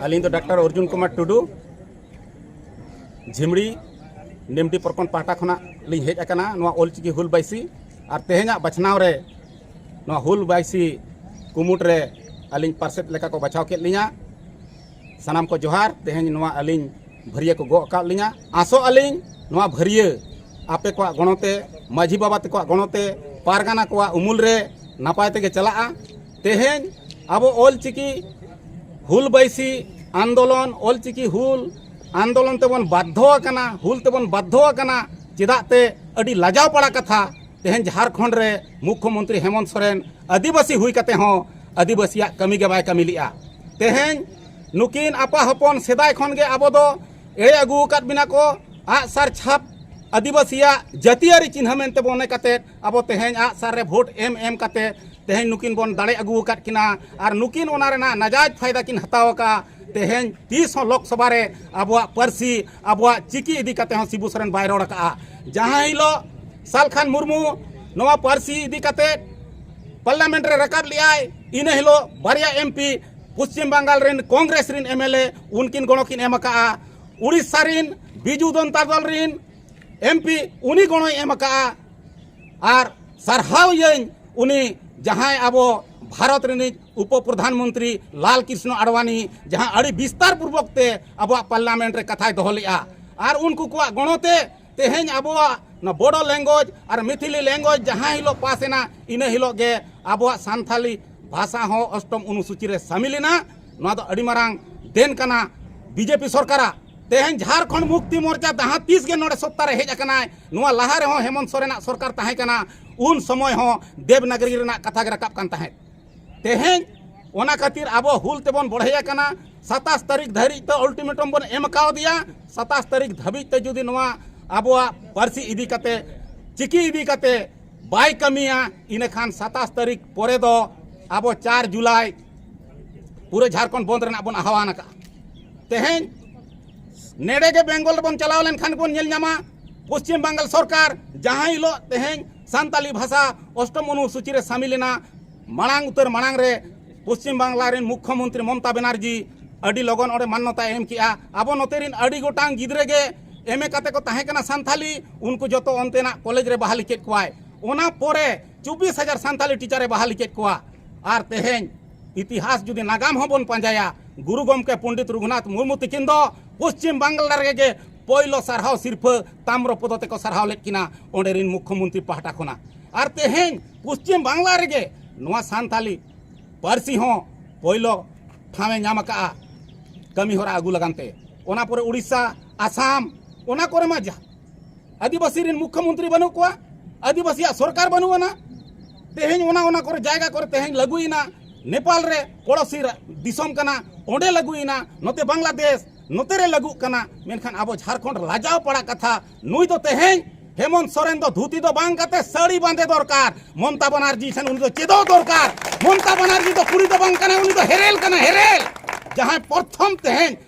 ᱟᱹᱞᱤᱧ ᱫᱚ ᱰᱟᱠᱛᱟᱨ ᱚᱨᱡᱩᱱ ᱠᱩᱢᱟᱨ ᱴᱩᱰᱩ ᱡᱷᱤᱢᱲᱤ ᱱᱤᱢᱰᱤ ᱯᱨᱚᱠᱷᱚᱸᱰ ᱯᱟᱦᱴᱟ ᱠᱷᱚᱱᱟᱜ ᱞᱤᱧ ᱦᱮᱡ ᱟᱠᱟᱱᱟ ᱱᱚᱣᱟ ᱚᱞᱪᱤᱠᱤ ᱦᱩᱞ ᱵᱟᱭᱥᱤ ᱟᱨ ᱛᱮᱦᱮᱧᱟᱜ ᱵᱟᱪᱷᱱᱟᱣ ᱨᱮ ᱱᱚᱣᱟ ᱦᱩᱞ ᱵᱟᱭᱥᱤ ᱠᱩᱢᱩᱴ ᱨᱮ ᱟᱹᱞᱤᱧ ᱯᱟᱨᱥᱮᱫ ᱞᱮᱠᱟ ᱠᱚ ᱵᱟᱪᱷᱟᱣ ᱠᱮᱫ ᱞᱤᱧᱟ ᱥᱟᱱᱟᱢ ᱠᱚ ᱡᱚᱦᱟᱨ ᱛᱮᱦᱮᱧ ᱱᱚᱣᱟ ᱟᱹᱞᱤᱧ ᱵᱷᱟᱹᱨᱤᱭᱟᱹ ᱠᱚ ᱜᱚᱜ ᱟᱠᱟᱫ ᱞᱤᱧᱟ ᱟᱥᱚᱜ ᱟᱹᱞᱤᱧ ᱱᱚᱣᱟ ᱵᱷᱟᱹᱨᱤᱭᱟᱹ ᱟᱯᱮ ᱠᱚᱣᱟᱜ ᱜᱚᱲᱚᱛᱮ ᱢᱟᱹᱡᱷᱤ ᱵᱟᱵᱟ ᱛᱟᱠᱚᱣᱟᱜ ᱜᱚᱲᱚᱛᱮ ᱯᱟᱨᱜᱟᱱᱟ ᱠᱚᱣᱟᱜ ᱩᱢᱩᱞ ᱨᱮ ᱱᱟᱯᱟᱭ ᱛᱮᱜᱮ ᱪᱟᱞᱟᱜᱼᱟ ᱛᱮᱦᱮᱧ ᱟᱵᱚ ᱚᱞ ᱪᱤᱠᱤ ᱦᱩᱞ ᱵᱟᱹᱭᱥᱤ ᱟᱱᱫᱳᱞᱚᱱ ᱚᱞ ᱪᱤᱠᱤ ᱦᱩᱞ ᱟᱱᱫᱳᱞᱚᱱ ᱛᱮᱵᱚᱱ ᱵᱟᱫᱽᱫᱷᱚ ᱟᱠᱟᱱᱟ ᱦᱩᱞ ᱛᱮᱵᱚᱱ ᱵᱟᱫᱽᱫᱷᱚ ᱟᱠᱟᱱᱟ ᱪᱮᱫᱟᱜ ᱛᱮ ᱟᱹᱰᱤ ᱞᱟᱡᱟᱣ ᱯᱟᱲᱟ ᱠᱟᱛᱷᱟ ᱛᱮᱦᱮᱧ ᱡᱷᱟᱨᱠᱷᱚᱸᱰ ᱨᱮ ᱢᱩᱠᱷᱭᱚᱢᱚᱱᱛᱨᱤ ᱦᱮᱢᱚᱱᱛ ᱥᱚᱨᱮᱱ ᱟᱹᱫᱤᱵᱟᱹᱥᱤ ᱦᱩᱭ ᱠᱟᱛᱮ ᱦᱚᱸ ᱟᱹᱫᱤᱵᱟᱹᱥᱤᱭᱟᱜ ᱠᱟᱹᱢᱤ ᱜᱮ ᱵᱟᱭ ᱠᱟᱹᱢᱤ ᱞᱮᱜᱼᱟ ᱛᱮᱦᱮᱧ ᱱᱩᱠᱤᱱ ᱟᱯᱟ ᱦᱚᱯᱚᱱ ᱥᱮᱫᱟᱭ ᱠᱷᱚᱱ ᱜᱮ ᱟᱵᱚ ᱫᱚ ᱮᱲᱮ ᱟᱹᱜᱩ ᱟᱠᱟᱫ ᱵᱤᱱᱟ ᱠᱚ ᱟᱜᱼᱥᱟᱨ ᱪᱷᱟᱯ ᱟᱹᱫᱤᱵᱟᱹᱥᱤᱭᱟᱜ ᱡᱟᱹᱛᱤᱭᱟᱹᱨᱤ ᱪᱤᱱᱦᱟᱹ ᱢᱮᱱᱛᱮ ᱢᱚᱱᱮ ᱠᱟᱛᱮᱫ ᱟᱵᱚ ᱛᱮᱦᱮᱧ ᱟᱜ ᱥᱟᱨ ᱨᱮ ᱵᱷᱳᱴ ᱮᱢ ᱮᱢ ᱠᱟᱛᱮ ᱛᱮᱦᱮᱧ ᱱᱩᱠᱤᱱ ᱵᱚᱱ ᱫᱟᱲᱮ ᱟᱹᱜᱩ ᱟᱠᱟᱫ ᱠᱤᱱᱟ ᱟᱨ ᱱᱩᱠᱤᱱ ᱚᱱᱟ ᱨᱮᱱᱟᱜ ᱱᱟᱡᱟᱭᱡ ᱯᱷᱟᱭᱫᱟ ᱠᱤᱱ ᱦᱟᱛᱟᱣ ᱟᱠᱟᱫ ᱛᱮᱦᱮᱧ ᱛᱤᱥ ᱦᱚᱸ ᱞᱳᱠᱥᱚᱵᱷᱟ ᱨᱮ ᱟᱵᱚᱣᱟᱜ ᱯᱟᱹᱨᱥᱤ ᱟᱵᱚᱣᱟᱜ ᱪᱤᱠᱤ ᱤᱫᱤ ᱠᱟᱛᱮ ᱦᱚᱸ ᱥᱤᱵᱩ ᱥᱚᱨᱮᱱ ᱵᱟᱭ ᱨᱚᱲ ᱟᱠᱟᱫᱼᱟ ᱡᱟᱦᱟᱸ ᱦᱤᱞᱳᱜ ᱥᱟᱞᱠᱷᱟᱱ ᱢᱩᱨᱢᱩ ᱱᱚᱣᱟ ᱯᱟᱹᱨᱥᱤ ᱤᱫᱤ ᱠᱟᱛᱮ ᱯᱟᱨᱞᱟᱢᱮᱱᱴ ᱨᱮ ᱨᱟᱠᱟᱵ ᱞᱮᱫᱟᱭ ᱤᱱᱟᱹ ᱦᱤᱞᱳᱜ ᱵᱟᱨᱭᱟ ᱮᱢ ᱯᱤ ᱯᱚᱥᱪᱤᱢ ᱵᱟᱝᱜᱟᱞ ᱨᱮᱱ ᱠᱚᱝᱜᱨᱮᱥ ᱨᱮᱱ ᱮᱢ ᱮᱞ ᱮ ᱩᱱᱠᱤᱱ ᱜᱚᱲᱚ ᱠᱤᱱ ᱮᱢ ᱟᱠᱟᱫᱼᱟ ᱩᱲᱤᱥᱥᱟ ᱨᱮᱱ ᱵᱤᱡᱩ ᱡᱚᱱᱛᱟ ᱫᱚᱞ ᱨᱮᱱ ᱮᱢᱯᱤ ᱩᱱᱤ ᱜᱚᱲᱚᱭ ᱮᱢ ᱟᱠᱟᱜᱼᱟ ᱟᱨ ᱥᱟᱨᱦᱟᱣᱭᱟᱹᱧ ᱩᱱᱤ ᱡᱟᱦᱟᱸᱭ ᱟᱵᱚ ᱵᱷᱟᱨᱚᱛ ᱨᱤᱱᱤᱡ ᱩᱯᱚ ᱯᱨᱚᱫᱷᱟᱱ ᱢᱚᱱᱛᱨᱤ ᱞᱟᱞ ᱠᱨᱤᱥᱱᱚ ᱟᱰᱣᱟᱱᱤ ᱡᱟᱦᱟᱸ ᱟᱹᱰᱤ ᱵᱤᱥᱛᱟᱨ ᱯᱩᱨᱵᱚᱠ ᱛᱮ ᱟᱵᱚᱣᱟᱜ ᱯᱟᱨᱞᱟᱢᱮᱱᱴ ᱨᱮ ᱠᱟᱛᱷᱟᱭ ᱫᱚᱦᱚ ᱞᱮᱜᱼᱟ ᱟᱨ ᱩᱱᱠᱩ ᱠᱚᱣᱟᱜ ᱜᱚᱲᱚ ᱛᱮ ᱛᱮᱦᱮᱧ ᱟᱵᱚᱣᱟᱜ ᱱᱚᱣᱟ ᱵᱚᱰᱚ ᱞᱮᱝᱜᱩᱭᱮᱡᱽ ᱟᱨ ᱢᱤᱛᱷᱤᱞᱤ ᱞᱮᱝᱜᱩᱭᱮᱡᱽ ᱡᱟᱦᱟᱸ ᱦᱤᱞᱳᱜ ᱯᱟᱥ ᱮᱱᱟ ᱤᱱᱟᱹ ᱦᱤᱞᱳᱜ ᱜᱮ ᱟᱵᱚᱣᱟᱜ ᱥᱟᱱᱛᱷᱟᱞᱤ ᱵᱷᱟᱥᱟ ᱦᱚᱸ ᱚᱥᱴᱚᱢ ᱚᱱᱩᱥᱩᱪᱤ ᱨᱮ ᱥᱟᱢᱤᱞ ᱮᱱᱟ ᱱᱚᱣᱟ ᱫᱚ ᱟᱹᱰᱤ ᱢᱟᱨᱟᱝ ᱫᱮᱱ ᱠᱟᱱᱟ ᱵᱤᱡᱮᱯᱤ ᱥᱚᱨᱠᱟᱨᱟᱜ ᱛᱮᱦᱮᱧ ᱡᱷᱟᱨᱠᱷᱚᱸᱰ ᱢᱩᱠᱛᱤ ᱢᱳᱨᱪᱟ ᱡᱟᱦᱟᱸ ᱛᱤᱥ ᱜᱮ ᱱᱚᱰᱮ ᱥᱚᱛᱛᱟ ᱨᱮ ᱦᱮᱡ ᱟᱠᱟᱱᱟᱭ ᱱᱚᱣᱟ ᱞᱟᱦᱟ ᱨᱮᱦᱚᱸ ᱦᱮᱢᱚᱱᱛ ᱥᱚᱨᱮᱱᱟᱜ ᱥᱚᱨᱠᱟᱨ ᱛᱟᱦᱮᱸ ᱠᱟᱱᱟ ᱩᱱ ᱥᱚᱢᱚᱭ ᱦᱚᱸ ᱫᱮᱵᱽᱱᱟᱜᱚᱨᱤ ᱨᱮᱱᱟᱜ ᱠᱟᱛᱷᱟ ᱜᱮ ᱨᱟᱠᱟᱵ ᱠᱟᱱ ᱛᱟᱦᱮᱸᱫ ᱛᱮᱦᱮᱧ ᱚᱱᱟ ᱠᱷᱟᱹᱛᱤᱨ ᱟᱵᱚ ᱦᱩᱞ ᱛᱮᱵᱚᱱ ᱵᱚᱲᱦᱮ ᱟᱠᱟᱱᱟ ᱥᱟᱛᱟᱥ ᱛᱟᱹᱨᱤᱠᱷ ᱫᱷᱟᱹᱨᱤᱡ ᱛᱮ ᱚᱞᱴᱤᱢᱮᱴᱚᱢ ᱵᱚᱱ ᱮᱢ ᱠᱟᱣᱫᱮᱭᱟ ᱥᱟᱛᱟᱥ ᱛᱟᱹᱨᱤᱠᱷ ᱫᱷᱟᱹᱵᱤᱡ ᱛᱮ ᱡᱩᱫᱤ ᱱᱚᱣᱟ ᱟᱵᱚᱣᱟᱜ ᱯᱟᱹᱨᱥᱤ ᱤᱫᱤ ᱠᱟᱛᱮ ᱪᱤᱠᱤ ᱤᱫᱤ ᱠᱟᱛᱮ ᱵᱟᱭ ᱠᱟᱹᱢᱤᱭᱟ ᱤᱱᱟᱹᱠᱷᱟᱱ ᱥᱟᱛᱟᱥ ᱛᱟᱹᱨᱤᱠᱷ ᱯᱚᱨᱮ ᱫᱚ ᱟᱵᱚ ᱪᱟᱨ ᱡᱩᱞᱟᱭ ᱯᱩᱨᱟᱹ ᱡᱷᱟᱲᱠᱷᱚᱸᱰ ᱵᱚᱱᱫ ᱨᱮᱱᱟᱜ ᱵᱚᱱ ᱟᱦᱣᱟᱱ ᱟᱠᱟᱫᱼᱟ ᱛᱮᱦᱮᱧ ᱱᱮᱰᱮ ᱜᱮ ᱵᱮᱝᱜᱚᱞ ᱨᱮᱵᱚᱱ ᱪᱟᱞᱟᱣ ᱞᱮᱱᱠᱷᱟᱱ ᱵᱚᱱ ᱧᱮᱞ ᱧᱟᱢᱟ ᱯᱚᱥᱪᱤᱢ ᱵᱟᱝᱜᱟᱞ ᱥᱚᱨᱠᱟᱨ ᱡᱟᱦᱟᱸ ᱦᱤᱞᱳᱜ ᱛᱮᱦᱮᱧ ᱥᱟᱱᱛᱟᱞᱤ ᱵᱷᱟᱥᱟ ᱚᱥᱴᱚᱢ ᱚᱱᱩᱥᱩᱪᱤ ᱨᱮ ᱥᱟᱢᱤᱞ ᱮᱱᱟ ᱢᱟᱲᱟᱝ ᱩᱛᱟᱹᱨ ᱢᱟᱲᱟᱝ ᱨᱮ ᱯᱚᱥᱪᱤᱢ ᱵᱟᱝᱞᱟ ᱨᱮᱱ ᱢᱩᱠᱷᱭᱚᱢᱚᱱᱛᱨᱤ ᱢᱚᱢᱛᱟ ᱵᱮᱱᱟᱨᱡᱤ ᱟᱹᱰᱤ ᱞᱚᱜᱚᱱ ᱚᱸᱰᱮ ᱢᱟᱱᱱᱚᱛᱟ ᱮᱢ ᱠᱮᱜᱼᱟ ᱟᱵᱚ ᱱᱚᱛᱮ ᱨᱮᱱ ᱟᱹᱰᱤ ᱜᱚᱴᱟᱝ ᱜᱤᱫᱽᱨᱟᱹ ᱜᱮ ᱮᱢ ᱮ ᱠᱟᱛᱮ ᱠᱚ ᱛᱟᱦᱮᱸ ᱠᱟᱱᱟ ᱥᱟᱱᱛᱟᱞᱤ ᱩᱱᱠᱩ ᱡᱚᱛᱚ ᱚᱱᱛᱮᱱᱟᱜ ᱠᱚᱞᱮᱡᱽ ᱨᱮ ᱵᱟᱦᱟᱞᱤ ᱠᱮᱫ ᱠᱚᱣᱟᱭ ᱚᱱᱟ ᱯᱚᱨᱮ ᱪᱚᱵᱵᱤᱥ ᱦᱟᱡᱟᱨ ᱥᱟᱱᱛᱟᱞᱤ ᱴᱤᱪᱟᱨᱮ ᱵᱟᱦᱟᱞᱤ ᱠᱮᱫ ᱠᱚᱣᱟ ᱟᱨ ᱛᱮᱦᱮᱧ ᱤᱛᱤᱦᱟᱥ ᱡᱩᱫᱤ ᱱᱟᱜᱟᱢ ᱦᱚᱸ ᱵᱚᱱ ᱯᱟᱸᱡᱟᱭᱟ ᱜᱩᱨᱩ ᱜᱚᱢᱠᱮ ᱯᱚᱱᱰᱤᱛ ᱨᱚᱜᱷᱩᱱᱟᱛᱷ ᱢᱩᱨᱢᱩ ᱛᱤᱠᱤᱱ ᱫᱚ ᱯᱚᱥᱪᱤᱢ ᱵᱟᱝᱞᱟ ᱨᱮᱜᱮ ᱯᱳᱭᱞᱳ ᱥᱟᱨᱦᱟᱣ ᱥᱤᱨᱯᱷᱟᱹ ᱛᱟᱢᱨᱚ ᱯᱚᱫᱚ ᱛᱮᱠᱚ ᱥᱟᱨᱦᱟᱣ ᱞᱮᱫ ᱠᱤᱱᱟ ᱚᱸᱰᱮ ᱨᱤᱱ ᱢᱩᱠᱷᱭᱚᱢᱚᱱᱛᱨᱤ ᱯᱟᱦᱴᱟ ᱠᱷᱚᱱᱟᱜ ᱟᱨ ᱛᱮᱦᱮᱧ ᱯᱚᱥᱪᱤᱢ ᱵᱟᱝᱞᱟ ᱨᱮᱜᱮ ᱱᱚᱣᱟ ᱥᱟᱱᱛᱟᱞᱤ ᱯᱟᱹᱨᱥᱤ ᱦᱚᱸ ᱯᱳᱭᱞᱳ ᱴᱷᱟᱶᱮ ᱧᱟᱢ ᱟᱠᱟᱜᱼᱟ ᱠᱟᱹᱢᱤ ᱦᱚᱨᱟ ᱟᱹᱜᱩ ᱞᱟᱜᱟᱱ ᱛᱮ ᱚᱱᱟ ᱯᱚᱨᱮ ᱩᱲᱤᱥᱥᱟ ᱟᱥᱟᱢ ᱚᱱᱟ ᱠᱚᱨᱮ ᱢᱟ ᱟᱹᱫᱤᱵᱟᱹᱥᱤ ᱨᱮᱱ ᱢᱩᱠᱷᱭᱚ ᱢᱚᱱᱛᱨᱤ ᱵᱟᱹᱱᱩᱜ ᱠᱚᱣᱟ ᱟᱹᱫᱤᱵᱟᱹᱥᱤᱭᱟᱜ ᱥᱚᱨᱠᱟᱨ ᱵᱟᱹᱱᱩᱜ ᱟᱱᱟ ᱛᱮᱦᱮᱧ ᱚᱱᱟ ᱚᱱᱟ ᱠᱚᱨᱮ ᱡᱟᱭᱜᱟ ᱠᱚᱨᱮ ᱛᱮᱦᱮᱧ ᱞᱟᱹᱜᱩᱭᱮᱱᱟ ᱱᱮᱯᱟᱞ ᱨᱮ ᱯᱚᱲᱚᱥᱤ ᱫᱤᱥᱚᱢ ᱠᱟᱱᱟ ᱚᱸᱰᱮ ᱞᱟᱹᱜᱩᱭᱮᱱᱟ ᱱᱚᱛᱮ ᱵᱟᱝᱞᱟᱫᱮᱥ ᱱᱚᱛᱮ ᱨᱮ ᱞᱟᱹᱜᱩᱜ ᱠᱟᱱᱟ ᱢᱮᱱᱠᱷᱟᱱ ᱟᱵᱚ ᱡᱷᱟᱲᱠᱷᱚᱸᱰ ᱞᱟᱡᱟᱣ ᱯᱟᱲᱟ ᱠᱟᱛᱷᱟ ᱱᱩᱭ ᱫᱚ ᱛᱮᱦᱮᱧ ᱦᱮᱢᱚᱱᱛ ᱥᱚᱨᱮᱱ ᱫᱚ ᱫᱷᱩᱛᱤ ᱫᱚ ᱵᱟᱝ ᱠᱟᱛᱮ ᱥᱟᱹᱲᱤ ᱵᱟᱸᱫᱮ ᱫᱚᱨᱠᱟᱨ ᱢᱚᱢᱛᱟ ᱵᱟᱱᱟᱨᱡᱤ ᱴᱷᱮᱱ ᱩᱱᱤ ᱫᱚ ᱪᱮᱫᱚᱜ ᱫᱚᱨᱠᱟᱨ ᱢᱚᱢᱛᱟ ᱵᱟᱱᱟᱨᱡᱤ ᱫᱚ ᱠᱩᱲᱤ ᱫᱚ ᱵᱟᱝ ᱠᱟᱱᱟ ᱩᱱᱤ ᱫᱚ ᱦᱮᱨᱮᱞ ᱠᱟᱱᱟ ᱦᱮᱨᱮᱞ ᱡᱟᱦᱟᱸᱭ ᱯᱨᱚᱛᱷᱚᱢ ᱛᱮᱦᱮᱧ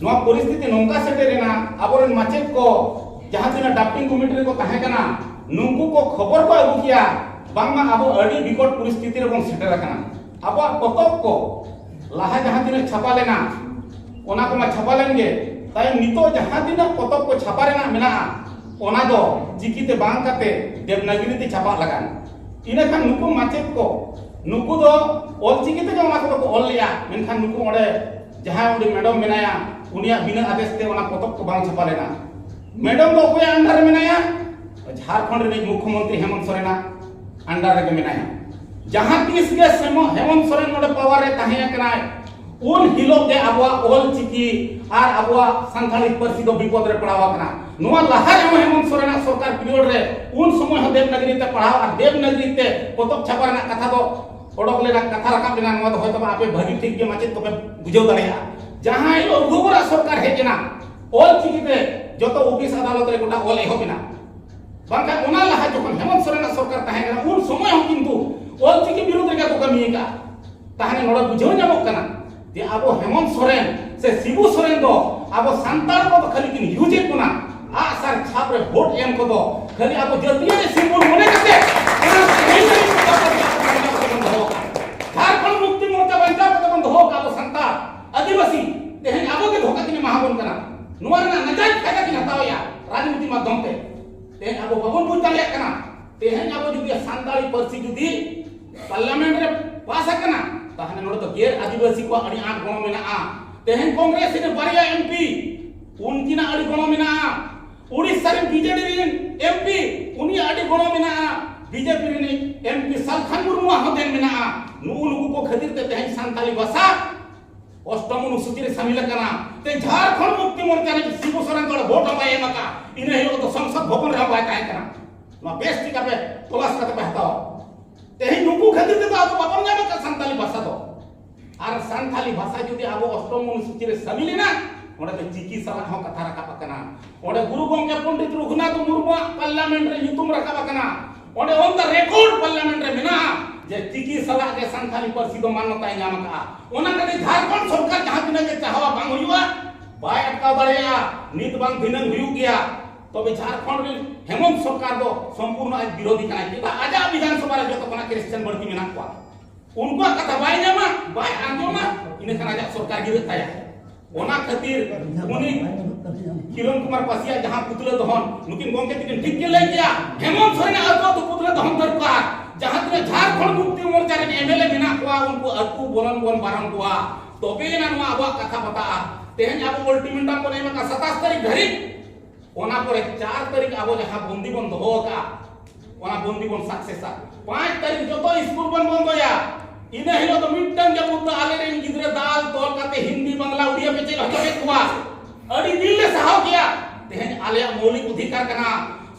ᱱᱚᱣᱟ ᱯᱚᱨᱤᱥᱛᱷᱤᱛᱤ ᱱᱚᱝᱠᱟ ᱥᱮᱴᱮᱨᱮᱱᱟ ᱟᱵᱚᱨᱮᱱ ᱢᱟᱪᱮᱫ ᱠᱚ ᱡᱟᱦᱟᱸ ᱛᱤᱱᱟᱹᱜ ᱰᱟᱯᱴᱤᱝ ᱠᱚᱢᱤᱴᱤ ᱨᱮᱠᱚ ᱛᱟᱦᱮᱸ ᱠᱟᱱᱟ ᱱᱩᱠᱩ ᱠᱚ ᱠᱷᱚᱵᱚᱨ ᱠᱚ ᱟᱹᱜᱩ ᱠᱮᱭᱟ ᱵᱟᱝᱢᱟ ᱟᱵᱚ ᱟᱹᱰᱤ ᱵᱤᱠᱚᱴ ᱯᱚᱨᱤᱥᱛᱷᱤᱛᱤ ᱨᱮᱵᱚᱱ ᱥᱮᱴᱮᱨ ᱟᱠᱟᱱᱟ ᱟᱵᱚᱣᱟᱜ ᱯᱚᱛᱚᱵ ᱠᱚ ᱞᱟᱦᱟ ᱡᱟᱦᱟᱸ ᱛᱤᱱᱟᱹᱜ ᱪᱷᱟᱯᱟ ᱞᱮᱱᱟ ᱚᱱᱟ ᱠᱚᱢᱟ ᱪᱷᱟᱯᱟ ᱞᱮᱱ ᱜᱮ ᱛᱟᱭᱚᱢ ᱱᱤᱛᱚᱜ ᱡᱟᱦᱟᱸ ᱛᱤᱱᱟᱹᱜ ᱯᱚᱛᱚᱵ ᱠᱚ ᱪᱷᱟᱯᱟ ᱨᱮᱱᱟᱜ ᱢᱮᱱᱟᱜᱼᱟ ᱚᱱᱟ ᱫᱚ ᱪᱤᱠᱤᱛᱮ ᱵᱟᱝ ᱠᱟᱛᱮ ᱫᱮᱵᱽᱱᱟᱜᱤᱨᱤ ᱛᱮ ᱪᱷᱟᱯᱟ ᱞᱟᱜᱟᱱ ᱤᱱᱟᱹ ᱠᱷᱟᱱ ᱱᱩᱠᱩ ᱢᱟᱪᱮᱫ ᱠᱚ ᱱᱩᱠᱩ ᱫᱚ ᱚᱞᱪᱤᱠᱤ ᱛᱮᱜᱮ ᱚᱱᱟ ᱠᱚᱫᱚ ᱠᱚ ᱚᱞ ᱞᱮᱜᱼᱟ ᱢᱮᱱᱠᱷᱟᱱ ᱱᱩᱠᱩ ᱚᱸᱰᱮ ᱡᱟᱦᱟᱸᱭ ᱚᱸᱰᱮ ᱢᱮᱰᱚᱢ ᱢᱮᱱᱟᱭᱟ ᱩᱱᱤᱭᱟᱜ ᱵᱤᱱᱟᱹ ᱟᱫᱮᱥ ᱛᱮ ᱚᱱᱟ ᱯᱚᱛᱚᱵ ᱠᱚ ᱵᱟᱝ ᱪᱷᱟᱯᱟ ᱞᱮᱱᱟ ᱢᱮᱰᱚᱢ ᱫᱚ ᱚᱠᱚᱭᱟᱜ ᱟᱱᱰᱟᱨ ᱨᱮ ᱢᱮᱱᱟᱭᱟ ᱡᱷᱟᱲᱠᱷᱚᱸᱰ ᱨᱤᱱᱤᱡ ᱢᱩᱠᱷᱭᱚᱢᱚᱱᱛᱨᱤ ᱦᱮᱢᱚᱱᱛ ᱥᱚᱨᱮᱱᱟᱜ ᱟᱱᱰᱟᱨ ᱨᱮᱜᱮ ᱢᱮᱱᱟᱭᱟ ᱡᱟᱦᱟᱸ ᱛᱤᱥ ᱜᱮ ᱦᱮᱢᱚᱱᱛ ᱥᱚᱨᱮᱱ ᱱᱚᱰᱮ ᱯᱟᱣᱟᱨ ᱨᱮ ᱛᱟᱦᱮᱸ ᱟᱠᱟᱱᱟᱭ ᱩᱱ ᱦᱤᱞᱳᱜ ᱜᱮ ᱟᱵᱚᱣᱟᱜ ᱚᱞ ᱪᱤᱠᱤ ᱟᱨ ᱟᱵᱚᱣᱟᱜ ᱥᱟᱱᱛᱟᱲᱤ ᱯᱟᱹᱨᱥᱤ ᱫᱚ ᱵᱤᱯᱚᱫ ᱨᱮ ᱯᱟᱲᱟᱣ ᱟᱠᱟᱱᱟ ᱱᱚᱣᱟ ᱞᱟᱦᱟ ᱨᱮᱦᱚᱸ ᱦᱮᱢᱚᱱᱛ ᱥᱚᱨᱮᱱᱟᱜ ᱥᱚᱨᱠᱟᱨ ᱯᱤᱨᱤᱭᱚᱰ ᱨᱮ ᱩᱱ ᱥᱚᱢᱚᱭ ᱦᱚᱸ ᱫᱮᱵᱽᱱᱟᱜᱨᱤ ᱛᱮ ᱯᱟᱲᱦᱟᱣ ᱟᱨ ᱫᱮᱵᱽᱱᱟᱜᱨᱤ ᱛᱮ ᱯᱚᱛᱚᱵ ᱪᱷᱟᱯᱟ ᱨᱮᱱᱟᱜ ᱠᱟᱛᱷᱟ ᱫᱚ ᱚᱰᱚᱠ ᱞᱮᱱᱟ ᱠᱟᱛᱷᱟ ᱨᱟᱠᱟᱵ ᱞᱮᱱᱟ ᱱᱚᱣᱟ ᱫᱚ ᱦᱚᱭᱛᱚ ᱟᱯᱮ ᱵᱷᱟᱹᱜᱤ ᱴᱷᱤᱠ ᱜᱮ ᱢᱟᱪᱮᱫ ᱠᱚᱯᱮ ᱵᱩᱡᱷᱟᱹᱣ ᱫᱟᱲᱮᱭᱟᱜᱼᱟ ᱡᱟᱦᱟᱸ ᱦᱤᱞᱳᱜ ᱨᱩᱜᱩᱨᱟ ᱥᱚᱨᱠᱟᱨ ᱦᱮᱡ ᱮᱱᱟ ᱚᱞ ᱪᱤᱠᱤ ᱛᱮ ᱡᱚᱛᱚ ᱚᱯᱷᱤᱥ ᱟᱫᱟᱞᱚᱛ ᱨᱮ ᱜᱚᱴᱟ ᱚᱞ ᱮᱦᱚᱵ ᱮᱱᱟ ᱵᱟᱝᱠᱷᱟᱱ ᱚᱱᱟ ᱞᱟᱦᱟ ᱡᱚᱠᱷᱚᱱ ᱦᱮᱢᱚᱱᱛ ᱥᱚᱨᱮᱱᱟᱜ ᱥᱚᱨᱠᱟᱨ ᱛᱟᱦᱮᱸ ᱠᱟᱱᱟ ᱩᱱ ᱥᱚᱢᱚᱭ ᱦᱚᱸ ᱠᱤᱱᱛᱩ ᱚᱞ ᱪᱤᱠᱤ ᱵᱤᱨᱩᱫᱷ ᱨᱮᱜᱮ ᱠᱚ ᱠᱟᱹᱢᱤ ᱟᱠᱟᱫᱼᱟ ᱛᱟᱦᱚᱞᱮ ᱱᱚᱰᱮ ᱵᱩᱡᱷᱟᱹᱣ ᱧᱟᱢᱚᱜ ᱠᱟᱱᱟ ᱡᱮ ᱟᱵᱚ ᱦᱮᱢᱚᱱᱛ ᱥᱚᱨᱮᱱ ᱥᱮ ᱥᱤᱵᱩ ᱥᱚᱨᱮᱱ ᱫᱚ ᱟᱵᱚ ᱥᱟᱱᱛᱟᱲ ᱠᱚ ᱫᱚ ᱠᱷᱟᱹᱞᱤ ᱠᱤᱱ ᱤᱭᱩᱡᱮᱫ ᱵᱚᱱᱟ ᱟᱜ ᱥᱟᱨ ᱪᱷᱟᱯ ᱨᱮ ᱵᱷᱳᱴ ᱮᱢ ᱠᱚ ᱫᱚ ᱠᱷᱟᱹᱞᱤ ᱟᱵᱚ ᱡᱟᱹᱛᱤᱭᱟᱹᱨᱤ ᱥᱤᱢᱵᱚᱞ ᱢᱚᱱᱮ ᱠᱟᱛᱮ ᱚᱱᱟ ᱥᱟᱹᱦᱤ ᱥᱟᱹᱦᱤ ᱠᱚ ᱠᱟᱛᱮ ᱜᱮ ᱟᱵᱚ ᱵᱟᱧᱪᱟᱣ ᱠᱟᱛᱮ ᱵᱚᱱ ᱫᱚᱦᱚ ᱟᱠᱟᱫ ᱡᱷᱟᱲᱠᱷᱚᱸᱰ ᱢᱩᱠᱛᱤ ᱢᱳᱨᱪᱟ ᱵᱟᱧᱪᱟᱣ ᱠᱟᱛᱮ ᱵᱚᱱ ᱫᱚᱦᱚ ᱟᱠᱟᱫ ᱟᱵᱚ ᱥᱟᱱᱛᱟᱲ ᱟᱹᱫᱤᱵᱟᱹᱥᱤ ᱛᱮᱦᱮᱧ ᱟᱵᱚ ᱜᱮ ᱫᱷᱳᱠᱟ ᱠᱤᱱ ᱮᱢᱟ ᱵᱚᱱ ᱠᱟᱱᱟ ᱱᱚᱣᱟ ᱨᱮᱱᱟᱜ ᱱᱟᱡᱟᱭ ᱯᱷᱟᱭᱫᱟ ᱠᱤᱱ ᱦᱟᱛᱟᱣᱮᱜᱼᱟ ᱨᱟᱡᱽᱱᱤᱛᱤ ᱢᱟᱫᱽᱫᱷᱚᱢ ᱛᱮ ᱛᱮᱦᱮᱧ ᱟᱵᱚ ᱵᱟᱵᱚᱱ ᱵᱩᱡᱽ ᱫᱟᱲᱮᱭᱟᱜ ᱠᱟᱱᱟ ᱛᱮᱦᱮᱧ ᱟᱵᱚ ᱡᱩᱫᱤ ᱥᱟᱱᱛᱟᱲᱤ ᱯᱟᱹᱨᱥᱤ ᱡᱩᱫᱤ ᱯᱟᱨᱞᱟᱢᱮᱱᱴ ᱨᱮ ᱯᱟᱥ ᱟᱠᱟᱱᱟ ᱛᱟᱦᱞᱮ ᱱᱚᱰᱮ ᱫᱚ ᱜᱮᱨ ᱟᱹᱫᱤᱵᱟᱹᱥᱤ ᱠᱚᱣᱟᱜ ᱟᱹᱰᱤ ᱟᱸᱴ ᱜᱚᱲᱚ ᱢᱮᱱᱟᱜᱼᱟ ᱛᱮᱦᱮᱧ ᱠᱚᱝᱜᱨᱮᱥ ᱨᱮ ᱵᱟᱨᱭᱟ ᱮᱢᱯᱤ ᱩᱱᱠᱤᱱᱟᱜ ᱟᱹᱰᱤ ᱜᱚᱲᱚ ᱢᱮᱱᱟᱜᱼᱟ ᱩᱲᱤᱥᱥᱟ ᱨᱮᱱ ᱵᱤᱡᱮᱰᱤ ᱨᱮᱱ ᱮᱢᱯᱤ ᱩᱱᱤᱭᱟᱜ ᱟᱹᱰᱤ ᱜᱚᱲᱚ ᱢᱮᱱᱟᱜᱼᱟ ᱵᱤᱡᱮᱯᱤ ᱨᱮᱱ ᱮᱢᱯᱤ ᱥᱟᱞᱠᱷᱟᱱ ᱢᱩᱨᱢᱩᱣᱟᱜ ᱦᱚᱸ ᱫᱮᱱ ᱢᱮᱱᱟᱜᱼᱟ ᱱᱩᱜᱩ ᱱᱩᱠᱩ ᱠᱚ ᱠᱷᱟᱹᱛᱤᱨ ᱛᱮ ᱛᱮᱦᱮᱧ ᱥᱟᱱᱛᱟᱲᱤ ᱵᱷᱟᱥᱟ ᱚᱥᱴᱚᱢ ᱚᱱᱩᱥᱩᱪᱤ ᱨᱮ ᱥᱟᱢᱤᱞ ᱟᱠᱟᱱᱟ ᱛᱮ ᱡᱷᱟᱲᱠᱷᱚᱸᱰ ᱢᱩᱠᱛᱤ ᱢᱳᱨᱪᱟ ᱨᱮ ᱥᱤᱵᱩ ᱥᱚᱨᱮᱱ ᱫᱚ ᱵᱷᱳᱴ ᱦᱚᱸ ᱵᱟᱭ ᱮᱢ ᱟᱠᱟᱫᱼᱟ ᱤᱱᱟᱹ ᱦᱤᱞᱳᱜ ᱫᱚ ᱥᱚᱝᱥᱚᱫ ᱵᱷᱚᱵᱚᱱ ᱨᱮᱦᱚᱸ ᱵᱟᱭ ᱛᱟᱦᱮᱸ ᱠᱟᱱᱟ ᱱᱚᱣᱟ ᱵᱮᱥ ᱴᱷᱤᱠ ᱟᱯᱮ ᱛᱚᱞᱟᱥ ᱠᱟᱛᱮ ᱯᱮ ᱦᱟᱛᱟᱣᱟ ᱛᱮᱦᱮᱧ ᱱᱩᱠᱩ ᱠᱷᱟᱹᱛᱤᱨ ᱛᱮᱫᱚ ᱟᱵᱚ ᱵᱟᱵᱚᱱ ᱧᱟᱢ ᱟᱠᱟᱫ ᱥᱟᱱᱛᱟᱞᱤ ᱵᱷᱟᱥᱟ ᱫᱚ ᱟᱨ ᱥᱟᱱᱛᱟᱞᱤ ᱵᱷᱟᱥᱟ ᱡᱩᱫᱤ ᱟᱵᱚ ᱚᱥᱴᱚᱢ ᱚᱱᱩᱥᱩᱪᱤ ᱨᱮ ᱥᱟᱹᱢᱤᱞ ᱮᱱᱟ ᱚᱸᱰᱮ ᱫᱚ ᱪᱤᱠᱤ ᱥᱟᱞᱟᱜ ᱦᱚᱸ ᱠᱟᱛᱷᱟ ᱨᱟᱠᱟᱵ ᱟᱠᱟᱱᱟ ᱚᱸᱰᱮ ᱜᱩᱨᱩ ᱜᱚᱢᱠᱮ ᱯᱚᱱᱰᱤᱛ ᱨᱚᱜᱷᱩᱱᱟᱛᱷ ᱢᱩᱨᱢᱩᱣᱟᱜ ᱯᱟᱨᱞᱟᱢᱮᱱᱴ ᱨᱮ ᱧᱩᱛᱩᱢ ᱨᱟᱠᱟᱵ ᱟᱠᱟᱱᱟ ᱚᱸᱰᱮ ᱚᱱ ᱫᱟ ᱨᱮᱠᱚᱨᱰ ᱯᱟᱨᱞᱟᱢᱮᱱᱴ ᱨᱮ ᱢᱮᱱᱟᱜᱼᱟ ᱡᱮ ᱪᱤᱠᱤ ᱥᱟᱞᱟᱜ ᱜᱮ ᱥᱟᱱᱛᱟᱞᱤ ᱯᱟᱹᱨᱥᱤ ᱫᱚ ᱢᱟᱱᱚᱛᱟᱭ ᱧᱟᱢ ᱟᱠᱟᱜᱼᱟ ᱚᱱᱟ ᱠᱟᱛᱮ ᱡᱷᱟᱲᱠᱷᱚᱸᱰ ᱥᱚᱨᱠᱟᱨ ᱡᱟᱦᱟᱸ ᱛᱤᱱᱟᱹᱜ ᱜᱮ ᱪᱟᱦᱟᱣᱟ ᱵᱟᱝ ᱦᱩᱭᱩᱜᱼᱟ ᱵᱟᱭ ᱟᱴᱠᱟᱣ ᱫᱟᱲᱮᱭᱟᱜᱼᱟ ᱱᱤᱛ ᱵᱟᱝ ᱫᱷᱤᱱᱟᱹᱝ ᱦᱩᱭᱩᱜ ᱜᱮᱭᱟ ᱛᱚᱵᱮ ᱡᱷᱟᱨᱠᱷᱚᱸᱰ ᱨᱮ ᱦᱮᱢᱚᱱᱛ ᱥᱚᱨᱠᱟᱨ ᱫᱚ ᱥᱚᱢᱯᱩᱨᱱᱚ ᱟᱡ ᱵᱤᱨᱳᱫᱷᱤ ᱠᱟᱱᱟᱭ ᱪᱮᱫᱟᱜ ᱟᱡᱟᱜ ᱵᱤᱫᱷᱟᱱ ᱥᱚᱵᱷᱟ ᱨᱮ ᱡᱚᱛᱚ ᱠᱷᱚᱱᱟᱜ ᱠᱨᱤᱥᱪᱟᱱ ᱵᱟᱹᱲᱛᱤ ᱢᱮᱱᱟᱜ ᱠᱚᱣᱟ ᱩᱱᱠᱩᱣᱟᱜ ᱠᱟᱛᱷᱟ ᱵᱟᱭ ᱧᱟᱢᱟ ᱵᱟᱭ ᱟᱸᱡᱚᱢᱟ ᱤᱱᱟᱹ ᱠᱷᱟᱱ ᱟᱡᱟᱜ ᱥᱚᱨᱠᱟᱨ ᱜᱤᱨᱟᱹᱜ ᱛᱟᱭᱟ ᱚᱱᱟ ᱠᱷᱟᱹᱛᱤᱨ ᱩᱱᱤ ᱠᱤᱨᱚᱱ ᱠᱩᱢᱟᱨ ᱯᱟᱥᱤᱭᱟ ᱡᱟᱦᱟᱸ ᱯᱩᱛᱞᱟᱹ ᱫᱚᱦᱚᱱ ᱱᱩᱠᱤᱱ ᱜᱚᱢᱠᱮ ᱛᱤᱠᱤᱱ ᱴᱷᱤᱠ ᱠᱤᱱ ᱞᱟᱹᱭ ᱠᱮᱭᱟ ᱦᱮᱢᱚᱱᱛ ᱥᱚᱨᱮᱱ ᱟᱛᱳ ᱫᱚ ᱯᱩᱛᱞᱟᱹ ᱫᱚᱦᱚᱱ ᱫᱚᱨᱠᱟᱨ ᱡᱟᱦᱟᱸ ᱛᱤᱱᱟᱹᱜ ᱡᱷᱟᱨᱠᱷᱚᱸᱰ ᱢᱩᱠᱛᱤ ᱢᱳᱨᱪᱟ ᱨᱮᱱ ᱮᱢᱮᱞᱮ ᱢᱮᱱᱟᱜ ᱠᱚᱣᱟ ᱩᱱᱠᱩ ᱟᱛᱳ ᱵᱚᱞᱚᱱ ᱵᱚᱱ ᱵᱟᱨᱚᱱ ᱠᱚᱣᱟ ᱛᱚᱵᱮ ᱮᱱᱟ ᱱᱚᱣᱟ ᱟᱵᱚᱣᱟᱜ ᱠᱟᱛᱷᱟ ᱯᱟᱛᱟᱜᱼᱟ ᱛᱮᱦᱮᱧ ᱟᱵᱚ ᱚᱞᱴᱤᱢᱮᱴᱟᱢ ᱵᱚᱱ ᱮᱢ ᱟᱠᱟᱫ ᱥᱟᱛᱟᱥ ᱛᱟᱹᱨᱤᱠᱷ ᱫᱷᱟᱹᱨᱤᱡ ᱚᱱᱟ ᱯᱚᱨᱮ 4 ᱛᱟᱹᱨᱤᱠᱷ ᱟᱵᱚ ᱡᱟᱦᱟᱸ ᱵᱚᱱᱫᱤ ᱵᱚᱱ ᱫᱚᱦᱚ ᱟᱠᱟᱫᱼᱟ ᱚᱱᱟ ᱵᱚᱱᱫᱤ ᱵᱚᱱ ᱥᱟᱠᱥᱮᱥᱟ 5 ᱛᱟᱹᱨᱤᱠᱷ ᱡᱚᱛᱚ ᱥᱠᱩᱞ ᱵᱚᱱ ᱵᱚᱱᱫᱚᱭᱟ ᱤᱱᱟᱹ ᱦᱤᱞᱳᱜ ᱫᱚ ᱢᱤᱫᱴᱟᱝ ᱡᱟᱹᱯᱩᱫ ᱫᱚ ᱟᱞᱮ ᱨᱮᱱ ᱜᱤᱫᱽᱨᱟᱹ ᱫᱟᱞ ᱛᱚᱞ ᱠᱟᱛᱮ ᱦᱤᱱᱫᱤ ᱵᱟᱝᱞᱟ ᱩᱲᱤᱭᱟ ᱯᱮ ᱪᱮᱫ ᱦᱚᱪᱚ ᱠᱮᱫ ᱠᱚᱣᱟ ᱟᱹᱰᱤ ᱫᱤᱱ ᱞᱮ ᱥᱟᱦᱟᱣ ᱠᱮᱭᱟ ᱛᱮᱦᱮᱧ ᱟᱞᱮᱭᱟᱜ ᱢᱚৌᱞᱤᱠ ᱚᱫᱷᱤᱠᱟᱨ ᱠᱟᱱᱟ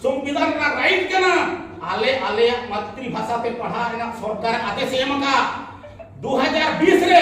ᱥᱚᱝᱵᱤᱫᱷᱟᱱ ᱨᱮᱱᱟᱜ ᱨᱟᱭᱤᱴ ᱠᱟᱱᱟ ᱟᱞᱮ ᱟᱞᱮᱭᱟᱜ ᱢᱟᱛᱨᱤᱵᱷᱟᱥᱟ ᱛᱮ ᱯᱟᱲᱦᱟᱜ ᱨᱮᱱᱟᱜ ᱥᱚᱨᱠᱟᱨ ᱟᱫᱮᱥ ᱮᱢ ᱟᱠᱟᱫ 2020 ᱨᱮ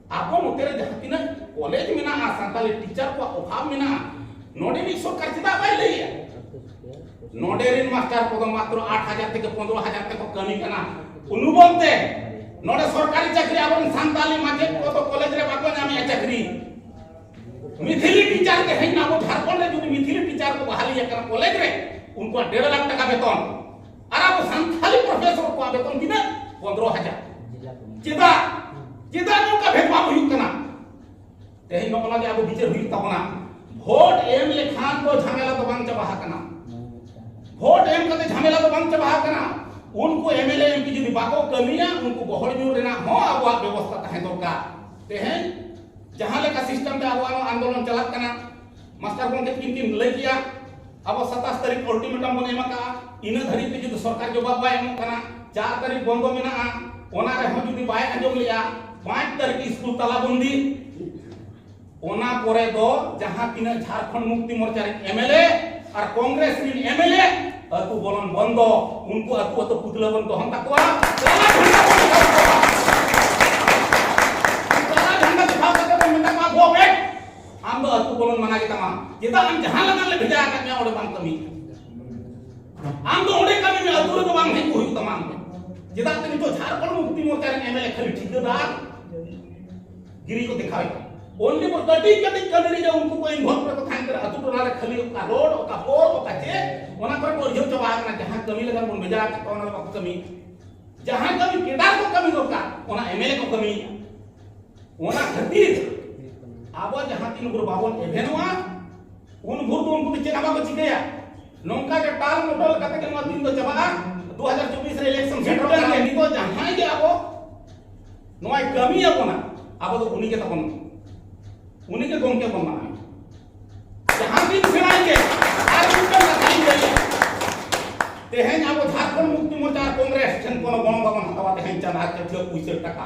ᱟᱵᱚ ᱱᱚᱛᱮ ᱨᱮ ᱡᱟᱦᱟᱸ ᱛᱤᱱᱟᱹᱜ ᱠᱚᱞᱮᱡᱽ ᱢᱮᱱᱟᱜᱼᱟ ᱥᱟᱱᱛᱟᱲᱤ ᱴᱤᱪᱟᱨ ᱠᱚᱣᱟᱜ ᱚᱵᱷᱟᱵ ᱢᱮᱱᱟᱜᱼᱟ ᱱᱚᱰᱮ ᱨᱤᱱ ᱥᱚᱨᱠᱟᱨ ᱪᱮᱫᱟᱜ ᱵᱟᱭ ᱞᱟᱹᱭᱟ ᱱᱚᱰᱮ ᱨᱤᱱ ᱢᱟᱥᱴᱟᱨ ᱠᱚᱫᱚ ᱢᱟᱛᱨᱚ ᱟᱴ ᱦᱟᱡᱟᱨ ᱛᱷᱮᱠᱮ ᱯᱚᱱᱨᱚ ᱦᱟᱡᱟᱨ ᱛᱮᱠᱚ ᱠᱟᱹᱢᱤ ᱠᱟᱱᱟ ᱩᱱᱩᱵᱚᱞ ᱛᱮ ᱱᱚᱰᱮ ᱥᱚᱨᱠᱟᱨᱤ ᱪᱟᱹᱠᱨᱤ ᱟᱵᱚ ᱨᱤᱱ ᱥᱟᱱᱛᱟᱲᱤ ᱢᱟᱪᱮᱫ ᱠᱚᱫᱚ ᱠᱚᱞᱮᱡᱽ ᱨᱮ ᱵᱟᱠᱚ ᱧᱟᱢᱮᱜᱼᱟ ᱪᱟᱹᱠᱨᱤ ᱢᱤᱛᱷᱤᱞᱤ ᱴᱤᱪᱟᱨ ᱛᱮᱦᱮᱧ ᱟᱵᱚ ᱡᱷᱟᱲᱠᱷᱚᱸᱰ ᱨᱮ ᱡᱩᱫᱤ ᱢᱤᱛᱷᱤᱞᱤ ᱴᱤᱪᱟᱨ ᱠᱚ ᱵᱟᱦᱟᱞᱤ ᱟᱠᱟᱱᱟ ᱠᱚᱞᱮᱡᱽ ᱨᱮ ᱩᱱᱠᱩᱣᱟᱜ ᱰᱮᱲ ᱞᱟᱠᱷ ᱴᱟᱠᱟ ᱵᱮᱛᱚᱱ ᱟᱨ ᱟᱵᱚ ᱥᱟᱱᱛᱟᱲᱤ ᱯᱨᱚᱯᱷᱮᱥᱚᱨ ᱠᱚᱣᱟᱜ ᱵᱮᱛᱚᱱ ᱛᱤᱱᱟᱹᱜ ᱯᱚᱱᱨᱚ ᱦᱟᱡᱟᱨ ᱪᱮᱫᱟᱜ ᱪᱮᱫᱟᱜ ᱱᱚᱝᱠᱟ ᱵᱷᱮᱫᱽᱵᱷᱟᱵᱽ ᱦᱩᱭᱩᱜ ᱠᱟᱱᱟ ᱛᱮᱦᱮᱧ ᱱᱚᱜᱼᱚ ᱱᱚᱣᱟ ᱜᱮ ᱟᱵᱚ ᱵᱤᱪᱟᱹᱨ ᱦᱩᱭᱩᱜ ᱛᱟᱵᱚᱱᱟ ᱵᱷᱳᱴ ᱮᱢ ᱞᱮᱠᱷᱟᱱ ᱫᱚ ᱡᱷᱟᱢᱮᱞᱟ ᱫᱚ ᱵᱟᱝ ᱪᱟᱵᱟ ᱟᱠᱟᱱᱟ ᱵᱷᱳᱴ ᱮᱢ ᱠᱟᱛᱮ ᱡᱷᱟᱢᱮᱞᱟ ᱫᱚ ᱵᱟᱝ ᱪᱟᱵᱟ ᱟᱠᱟᱱᱟ ᱩᱱᱠᱩ ᱮᱢᱮᱞᱮ ᱮᱢ ᱯᱤ ᱡᱩᱫᱤ ᱵᱟᱠᱚ ᱠᱟᱹᱢᱤᱭᱟ ᱩᱱᱠᱩ ᱜᱚᱦᱚᱲ ᱧᱩᱨ ᱨᱮᱱᱟᱜ ᱦᱚᱸ ᱟᱵᱚᱣᱟᱜ ᱵᱮᱵᱚᱥᱛᱟ ᱛᱟᱦᱮᱸ ᱫᱚᱨᱠᱟᱨ ᱛᱮᱦᱮᱧ ᱡᱟᱦᱟᱸ ᱞᱮᱠᱟ ᱥᱤᱥᱴᱮᱢ ᱛᱮ ᱟᱵᱚᱣᱟᱜ ᱟᱱᱫᱳᱞᱚᱱ ᱪᱟᱞᱟᱜ ᱠᱟᱱᱟ ᱢᱟᱥᱴᱟᱨ ᱜᱚᱢᱠᱮ ᱛᱤᱠᱤᱱ ᱠᱤᱱ ᱞᱟᱹᱭ ᱠᱮᱜᱼᱟ ᱟᱵᱚ ᱥᱟᱛᱟᱥ ᱛᱟᱹᱨᱤᱠᱷ ᱚᱞᱴᱤᱢᱮᱴᱟᱢ ᱵᱚᱱ ᱮᱢ ᱟᱠᱟᱜᱼᱟ ᱤᱱᱟᱹ ᱫᱷᱟᱹᱨᱤᱡ ᱛᱮ ᱡᱩᱫᱤ ᱥᱚᱨᱠᱟᱨ ᱡᱚᱵᱟᱵ ᱵᱟᱭ ᱮᱢᱚᱜ ᱠᱟᱱᱟ ᱪᱟᱨ ᱛᱟᱹᱨᱤᱠᱷ ᱵᱚᱱᱫᱚ ᱢᱮᱱᱟᱜᱼᱟ ᱚᱱᱟ ᱨᱮᱦᱚᱸ ᱡᱩᱫᱤ ᱵᱟᱭ ᱟᱸᱡᱚᱢ ᱞᱮᱜᱼᱟ ᱯᱟᱸᱪ ᱛᱟᱹᱨᱤᱠᱷ ᱥᱠᱩᱞ ᱛᱟᱞᱟᱵᱚᱱᱫᱤ ᱚᱱᱟ ᱯᱚᱨᱮ ᱫᱚ ᱡᱟᱦᱟᱸ ᱛᱤᱱᱟᱹᱜ ᱡᱷᱟᱲᱠᱷᱚᱸᱰ ᱢᱩᱠᱛᱤ ᱢᱳᱨᱪᱟ ᱨᱮᱱ ᱮᱢᱮᱞᱮ ᱟᱨ ᱠᱚᱝᱜᱨᱮᱥ ᱨᱮᱱ ᱮᱢᱮᱞᱮ ᱟᱹᱛᱩ ᱵᱚᱞᱚᱱ ᱵᱚᱱᱫᱚ ᱩᱱᱠᱩ ᱟᱹᱛᱩ ᱟᱹᱛᱩ ᱯᱩᱛᱞᱟᱹ ᱵᱚᱱ ᱫᱚᱦᱚᱱ ᱛᱟᱠᱚᱣᱟ ᱟᱢ ᱫᱚ ᱟᱹᱛᱩ ᱵᱚᱞᱚᱱ ᱢᱟᱱᱟ ᱜᱮ ᱛᱟᱢᱟ ᱪᱮᱫᱟᱜ ᱟᱢ ᱡᱟᱦᱟᱸ ᱞᱮᱠᱟ ᱞᱮ ᱵᱷᱮᱡᱟ ᱟᱠᱟᱫ ᱢᱮᱭᱟ ᱚᱸᱰᱮ ᱵᱟᱢ ᱠᱟᱹᱢᱤ ᱟᱢ ᱫᱚ ᱚᱸᱰᱮ ᱠᱟᱹᱢᱤ ᱢᱮ ᱟᱹᱛᱩ ᱨᱮᱫᱚ ᱵᱟᱝ ᱦᱮᱡ ᱠᱚ ᱦᱩᱭᱩᱜ ᱛᱟᱢᱟ ᱟᱢ ᱫᱚ ᱪᱮᱫᱟᱜ ᱛᱮ ᱱᱤᱛᱚᱜ ᱡᱷᱟᱲᱠᱷᱚᱸᱰ ᱢᱩᱠᱛᱤ ᱢᱳᱨᱪᱟ ᱨᱮᱱ ᱮᱢᱮᱞᱮ ᱠᱷᱟᱹᱞᱤ ᱴᱷᱤᱠᱟᱹᱫᱟᱨ ᱜᱤᱨᱤ ᱠᱚ ᱫᱮᱠᱷᱟᱣᱮᱫ ᱚᱱᱞᱤ ᱵᱚ ᱠᱟᱹᱴᱤᱡ ᱠᱟᱹᱴᱤᱡ ᱠᱟᱹᱢᱤ ᱨᱮ ᱩᱱᱠᱩ ᱠᱚ ᱤᱱᱵᱷᱚᱞᱵ ᱨᱮᱠᱚ ᱛᱟᱦᱮᱱ ᱠᱟᱱᱟ ᱟᱹᱛᱩ ᱴᱚᱞᱟ ᱨᱮ ᱠᱷᱟᱹᱞᱤ ᱚᱠᱟ ᱨᱳᱰ ᱚᱠᱟ ᱯᱳᱞ ᱚᱠᱟ ᱪᱮᱫ ᱚᱱᱟ ᱠᱚᱨᱮ ᱠᱚ ᱟᱹᱨᱡᱟᱹᱣ ᱪᱟᱵᱟ ᱟᱠᱟᱱᱟ ᱡᱟᱦᱟᱸ ᱠᱟᱹᱢᱤ ᱞᱮᱠᱟ ᱵᱚᱱ ᱵᱷᱮᱡᱟ ᱟᱠᱟᱫ ᱠᱚᱣᱟ ᱚᱱᱟ ᱫᱚ ᱵᱟᱠᱚ ᱠᱟᱹᱢᱤ ᱡᱟᱦᱟᱸ ᱠᱟᱹᱢᱤ ᱠᱮᱰᱟᱨ ᱠᱚ ᱠᱟᱹᱢᱤ ᱫᱚᱨᱠᱟᱨ ᱚᱱᱟ ᱮᱢᱮᱞᱮ ᱠᱚ ᱠᱟᱹᱢᱤᱭᱮᱫᱼᱟ ᱚᱱᱟ ᱠᱷᱟᱹᱛᱤᱨ ᱟᱵᱚ ᱡᱟᱦᱟᱸ ᱛᱤᱱ ᱵᱷᱳᱨ ᱵᱟᱵᱚᱱ ᱮᱵᱷᱮᱱᱚᱜᱼᱟ ᱩᱱ ᱵᱷᱳᱨ ᱫᱚ ᱩᱱᱠᱩ ᱫᱚ ᱪᱮᱫ ᱦᱚᱸ ᱵᱟᱠᱚ ᱪᱤᱠᱟᱹᱭᱟ ᱱᱚᱝᱠᱟ ᱜᱮ ᱴᱟᱞ ᱢᱚᱴᱚᱞ ᱠᱟᱛᱮ ᱜᱮ ᱱᱚᱣᱟ ᱫᱤᱱ ᱫᱚ ᱪᱟᱵᱟᱜᱼᱟ 2024 ᱨᱮ ᱤᱞᱮᱠᱥᱚᱱ ᱥᱮᱴᱮᱨ ᱞᱮᱱ ᱜᱮ ᱱᱤᱛᱚᱜ ᱡᱟᱦᱟᱸᱭ ᱜᱮ ᱟᱵᱚ ᱱᱚᱣᱟᱭ ᱠᱟᱹᱢᱤ ᱟᱵᱚᱱᱟ ᱟᱵᱚ ᱫᱚ ᱩᱱᱤ ᱜᱮ ᱛᱟᱵᱚᱱ ᱩᱱᱤ ᱜᱮ ᱜᱚᱢᱠᱮ ᱵᱚᱱ ᱢᱟᱱᱟᱣ ᱡᱟᱦᱟᱸ ᱫᱤᱱ ᱥᱮᱬᱟᱭ ᱜᱮ ᱟᱨ ᱢᱤᱫᱴᱟᱝ ᱠᱟᱛᱷᱟᱧ ᱞᱟᱹᱭᱟ ᱛᱮᱦᱮᱧ ᱟᱵᱚ ᱡᱷᱟᱨᱠᱷᱚᱸᱰ ᱢᱩᱠᱛᱤ ᱢᱳᱨᱪᱟ ᱠᱚᱝᱜᱨᱮᱥ ᱴᱷᱮᱱ ᱠᱳᱱᱳ ᱜᱚᱲᱚ ᱵᱟᱵᱚᱱ ᱦᱟᱛᱟᱣᱟ ᱛᱮᱦᱮᱧ ᱪᱟᱸᱫᱟ ᱪᱟᱹᱴᱷᱤᱭᱟᱹ ᱯᱩᱭᱥᱟᱹ ᱴᱟᱠᱟ